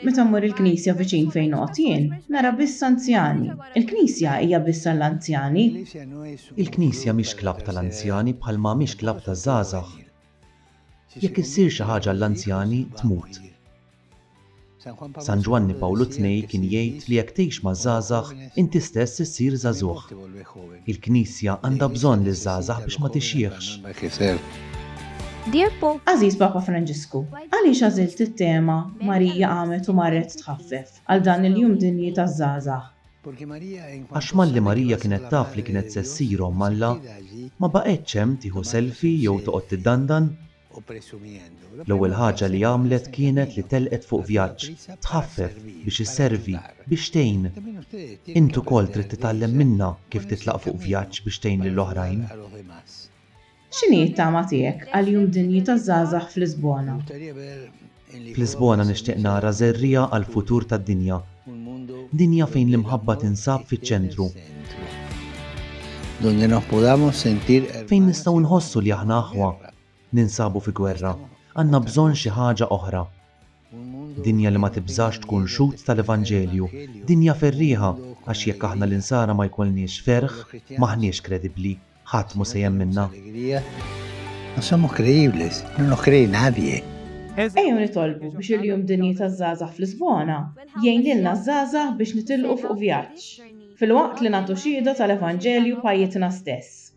Meta mmur il-knisja viċin fejn noqgħod jien, nara biss anzjani. Il-knisja hija biss għall-anzjani? Il-knisja mhix klabb tal-anzjani bħalma mhix klabb taż-żgħażagħ. Jekk issir xi ħaġa għall-anzjani, tmut. San Ġwanni Pawlu Tnej kien jgħid li jekk tgħix maż-żgħażagħ, inti stess issir żagħżugħ. Il-Knisja għandha bżonn liż-żgħażagħ biex ma tixjieħx. Dear Pope, Għażiż Papa Franġisku, għaliex għażilt it-tema Marija qamet u marret tħaffef għal dan il-Jum Dinji taż-Żgħażagħ? Għax malli Marija kienet taf li kienet se ssir Omm Alla, ma baqgħetx hemm tieħu selfie jew toqgħod tiddandan. L-ewwel ħaġa li għamlet kienet li telqet fuq vjaġġ, tħaffef, biex isservi, biex tgħin. Int ukoll trid titgħallem minnha kif titlaq fuq vjaġġ biex tgħin lil oħrajn. X'inhi t-tama tiegħek għal Jum Dinji taż-Żgħażagħ f'Lisbona? F'Lisbona nixtieq nara żerriegħa għall-futur tad-dinja. Dinja fejn l-imħabba tinsab fiċ-ċentru. Fejn nistgħu nħossu li aħna aħwa. Ninsabu fi gwerra. Għandna bżonn xi ħaġa oħra. Dinja li ma tibżax tkun xhud tal-evanġelju, dinja ferrieħa, għax jekk aħna l-insara ma jkollniex ferħ, m'aħniex kredibbli, ħadd mhu se jemminna. No somos creíbles, no nos cree nadie. Ejjew nitolbu biex il-Jum Dinji taż-Żgħażagħ f'Lisbona jgħin lilna ż-żgħażagħ biex nitilqu fuq vjaġġ, filwaqt li nagħtu xhieda tal-Evanġelju b'ħajjitna stess.